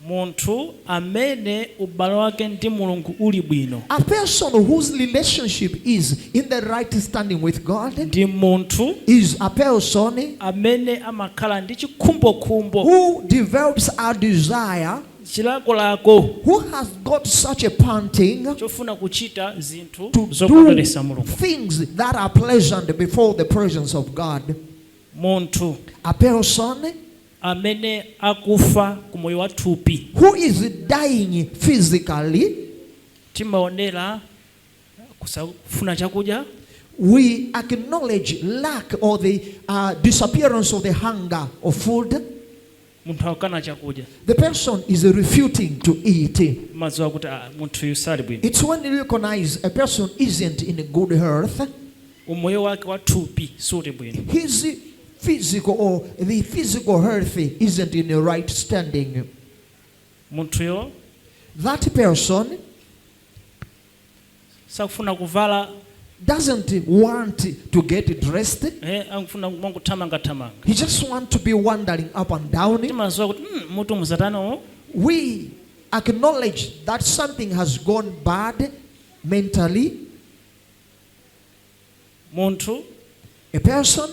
Munthu amene ubale wake ndi Mulungu uli bwino. A person whose relationship is in the right standing with God. Ndi munthu. Is a person. Amene amakhala ndi chikhumbokhumbo. Who develops a desire. Chilakolako. Who has got such a panting. Chofuna kuchita zinthu zokondweretsa Mulungu. Things that are pleasant before the presence of God. Munthu. A person. amene akufa ku moyo wa thupi. who is dying physically. Timaonera kusafuna chakudya. we acknowledge lack or the uh, disappearance of the hunger of food. Munthu akukana chakudya. The person is refuting to eat. Umadziwa kuti ah, munthu uyu sali bwino. It's when you recognize a person isn't in good health. Umoyo wake wa thupi suli bwino. His physical or the physical health isn't in a right standing. Munthuyo That person sakufuna kuvala doesn't want to get dressed. eh, akufuna mongothamangathamanga. He just wants to be wandering up and down. Timaziwa kuti mm, mutu muzatani uwu. We acknowledge that something has gone bad mentally. Munthu A person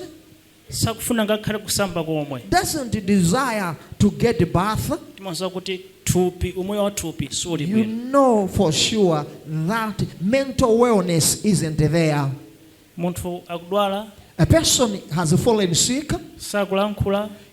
sakufuna ngakhale kusamba komwe. doesn't desire to get a bath. Timadziwa kuti thupi, umoyo wa thupi suli You bwino. know for sure that mental wellness isn't there. Munthu akudwala, A person has fallen sick, sakulankhula,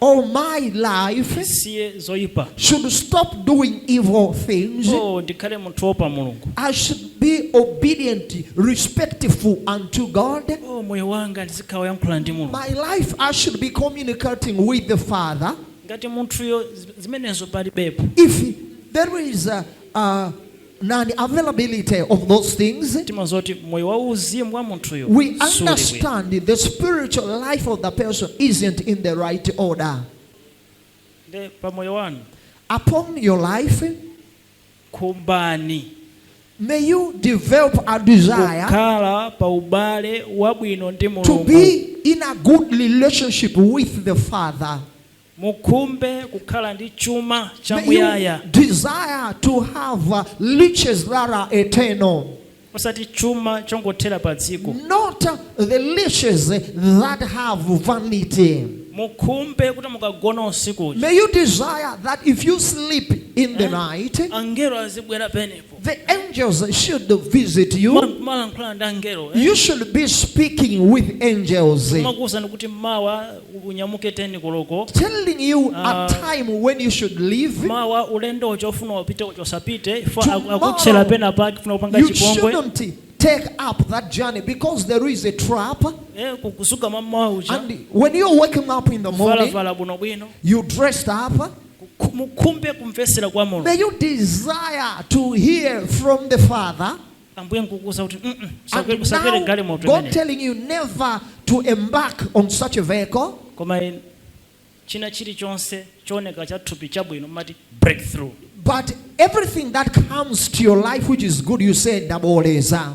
oh my life ndisiye zoipa should stop doing evil things oh ndikhale munthu woopa mulungu i should be obedient respectful unto god oh moyo wanga ndizikhala woyankhula ndi mulungu my life i should be communicating with the father ngati munthuyo zimenezo palibepo if there is a, a non availability of those things, timadziwa kuti moyo wauzimu wa munthuyo suli bwino we understand the spiritual life of the person isn't in the right order. Nde pa moyo wanu Upon your life, khumbani May you develop a desire kukhala pa ubale wabwino ndi Mulungu to be in a good relationship with the Father. Mukhumbe kukhala ndi chuma cha May you muyaya. desire to have uh, riches that are eternal, Osati chuma chongothera pa dziko. not uh, the riches that have vanity. Mukhumbe kuti mukagona usiku uja. May you desire that if you sleep in the night, Angelo azibwera pamenepo. The angels should visit you. Malankhula ndi angelo. Eh? You should be speaking with angels. Makuza kuti mawa unyamuke 10 koloko. Telling you a ah. time when you should leave. Mawa ulendo ochofuna upite ochosapite ifa akutsela pena pa kufuna kupanga chipongwe. You shouldn't take up that journey because there is a trap. Eh, and when you're waking up in the morning, you dressed up. mukhumbe kumvetsera kwa Mulungu. May you desire to hear from the Father. Ambuye nkukuuza kuti mm -mm, usakwere galimoto imeneyo. God telling you never to embark on such a vehicle. Koma china chilichonse chooneka cha thupi chabwino mumati breakthrough. But everything that comes to your life which is good you say ndabooleza.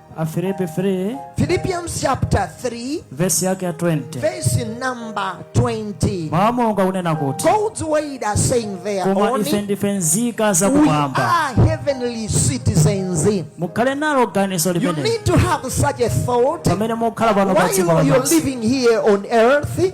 Afilipi 3 Philippians chapter 3, vesi yake ya 20 verse number 20. mawu a mulungu akunena kuti God's word are saying there koma ife only ndife nzika we zakumwamba are heavenly citizens. mukhale nalo ganizo You limeneli need to have such a thought pamene mukhala pano pa dziko while you're lapansi living here on earth.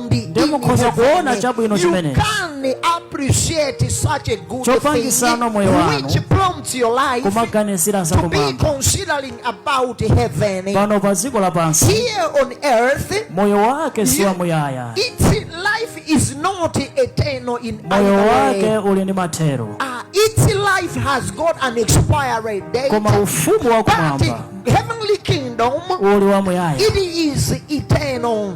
Ndiye in mukhoza heaven. kuona chabwino You chimenechi. can appreciate such a good Chopangisa thing moyo wanu. which prompts your life kumaganizira to be zakumwamba considering about heaven. pano pa dziko lapansi Here on earth, moyo wake si wamuyaya its life is not eternal in moyo either wake way. uli ndi mathero Ah, its life has got an expiry date. koma ufumu wa But kumwamba heavenly kingdom, uli wamuyaya it is eternal.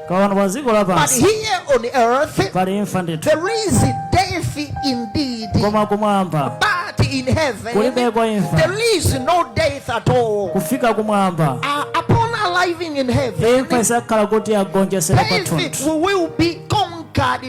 koma pano pa dziko But lapansi here on earth, pali imfa ndithu there is death indeed. koma kumwamba But in heaven, kulibeko imfa there is no death at all. kufika kumwamba Uh, upon arriving in heaven, imfa izakhala kuti yagonjesedwa death pathunthu will be conquered